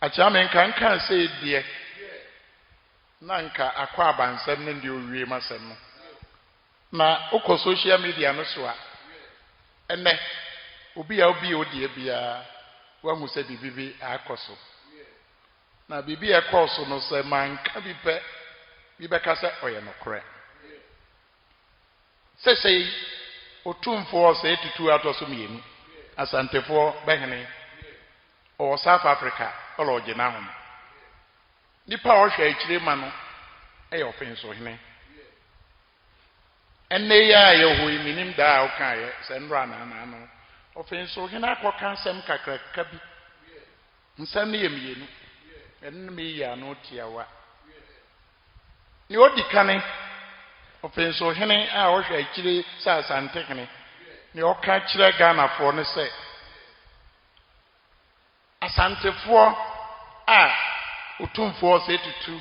Akyea menka nkaa sei deɛ na nka akɔ abansɛm no deɛ owie masɛm no na wokɔ social media no so a ɛnɛ obi a obi a odeɛ biara wahu sɛ biribi bi akɔ so na biribi a ɛkɔɔ so no sɛ manka bi pɛ bi bɛka sɛ ɔyɛ nokorɛ Sesei, Otumfoɔ Osei Tutu a ɔtɔ so mmienu, Asantefoɔ, bɛhene, ɔwɔ South Africa, ɔlɔ ɔgye n'ahom. Nnipa a ɔhwɛ akyire ma no yɛ Ɔfensohene. Ɛnnɛ yi a yɛwɔ hɔ yi, mennim da a wokaeɛ, sɛ nnora anaa anaa no, Ɔfensohene akɔka asɛm kakraka bi Nsɛm no yɛ mmienu. Ɛno na meyi ano tiawa. Nea odi kan, Ɔpɛnsohene a ɔhwɛ akyire sɛ Asantehene, nea ɔka kyerɛ Ghanafoɔ ne sɛ, Asantefoɔ a Otumfoɔ Osei Tutu,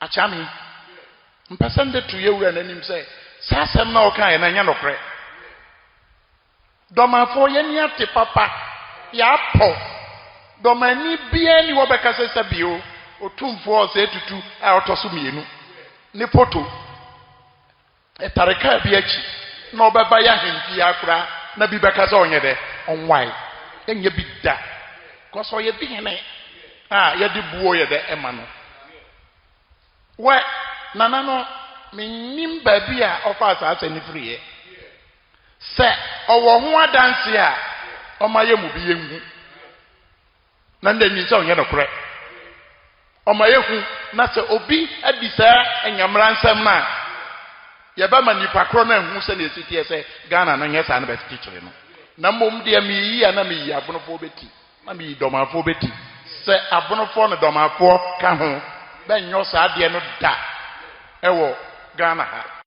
Akyea me yi, mpɛ sɛ mede to yɛn Wura no anim sɛ, saa asɛm no a ɔkaeɛ no ɛnyɛ nokorɛ. Dɔmanfoɔ, yɛn ani ate papa, yɛapɔ. Dɔmanni biara nni hɔ bɛka sɛ sɛ bio, Otumfoɔ Osei Tutu a ɔtɔ so mmienu, ne photo. Etare kar bi akyi na ɔbɛba y'ahemfie ha koraa na bi bɛka sɛ ɔnyɛ dɛ? Ɔnwae. Ɛnyɛ bi da. Cos ɔyɛ bi hene a yɛde buo yɛ dɛ ma no. Wɛ, Nana no mennim baabi a ɔfaa saa asɛm no firiiɛ. Sɛ ɔwɔ ho adanseɛ a ɔma yɛ mu bi yɛnhu. Na ndɛ nyinsɛn nnyɛ nokorɛ. Ɔma yɛhu na sɛ obi adi saa Nyamera nsɛm no a, yɛbɛma nipa korɔ no ahu sɛdeɛ ɛsi teɛ sɛ Ghana no nyɛ saa na bɛkyekyere no. Na mmom deɛ meyi a na meyi Abonofoɔ bɛti na meyi Dɔmanfoɔ bɛti. Sɛ Abonofoɔ ne Dɔmanfoɔ ka ho, bɛnyɔ saa adeɛ no da wɔ Ghana ha.